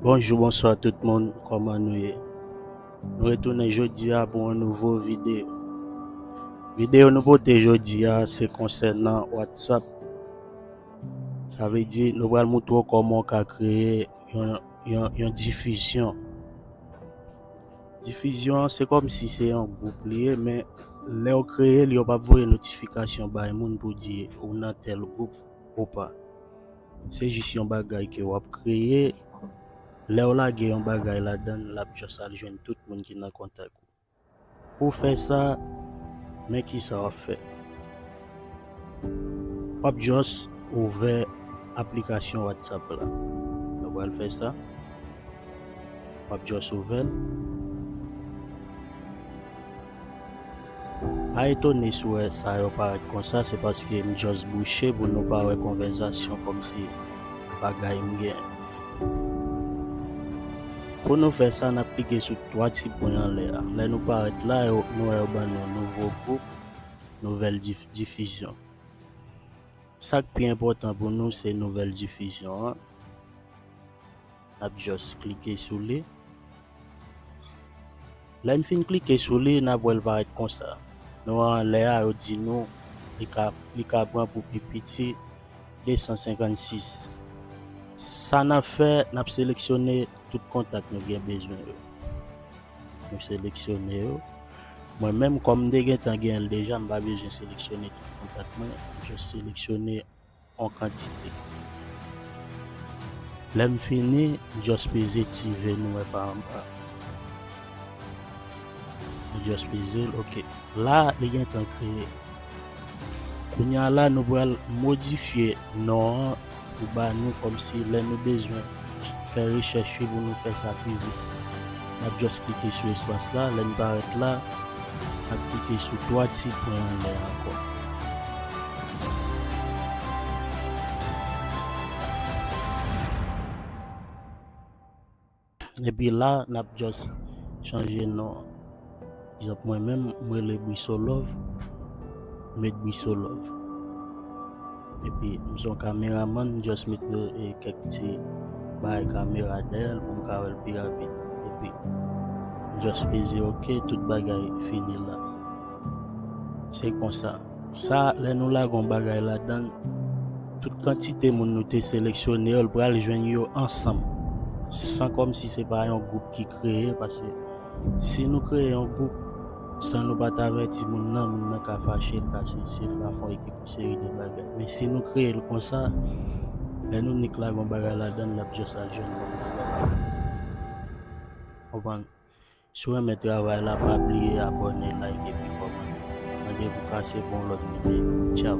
Bonjou bonswa tout moun kòman nou ye Nou retounen jodi a pou an nouvo videyo Videyo nou pote jodi a se konsènan whatsapp Sa vle di nou pral moutre w kòman w ka kreye yon, yon, yon difizyon Difizyon an se kòm si se yon gwoup li ye men lè w kreye l yo pap voye notifikasyon bay moun pou di ou nan tèl gwoup ou pa. Se jis yon bagay ke wap kreye, lèw lage yon bagay ladann lap just al jwenn tout moun ki nan kontak ou. Pouw fè sa, men kisa wap fè. Wap just ouvè aplikasyon WhatsApp la. Nou pral fè sa. Wap just ouvèl. Pa etone si w wè sa yo parèt konsa, se paske m just bouche pou nou pa wè konvèzasyon kòm si bagay m gen. Pou nou fè sa, n ap klike sou 3 ti pwen anlè a. Lè nou parèt la, nou wè yo ban nou Nouveau groupe, Nouvelle diffusion. Sa k pi enpòtan pou nou se Nouvelle diffusion an. Nap just klike sou li. Lè n fin klike sou li nap wè l parèt konsa. Nou wè anlè a yo di nou li ka li ka pran pou pi piti 256. Sa nap fè nap seleksyone tout kontak nou gen bezwen yo. Nou seleksyone yo. Mwen menm kòm m te gentan gen l deja m pa bezwen seleksyone tout kontak mwen. M just seleksyone. an kantite. Lè m fini, m just peze ti ve nou wè pa anba. M just peze l, ok. La, li gen tan kreye. Kounya la nou pral modifye non an pou ba nou kòmsi lè nou bezwen. Fè rechèch wi pou nou fè sa pi vit. Nap just klike sou espas la, lèn parèt la nap klike sou 3 ti pwen anlè a ankò. Epi la nap just chanje non. Egzanp mwen menm m rele Brisolove met Brisolove epi m son kameramann m just met kèk ti bagay kamera dèyè l pou m ka wè l pi rapid epi m just peze ok tout bagay fini la se konsa sa lè nou lage yon bagay ladan l tout kantite moun nou te seleksyone yo l pral jwenn yo ansanm san kòmsi se pa yon gwoup ki kreye paske Si nou kreye yon gwoup san nou pa t avèti moun nan, moun nan ka fache, l ka sezi, l ka fè yon ekip yon seri de bagay. Men si nou kreye l konsa, lè nou nik lage yon bagay ladan l, l ap jès al jwenn moun nan nòmal. Konprann? Si w renmen travay la, pa bliye abòne, like epi kòmante. Randevou kase pou yon lòt videyo. Tchaw!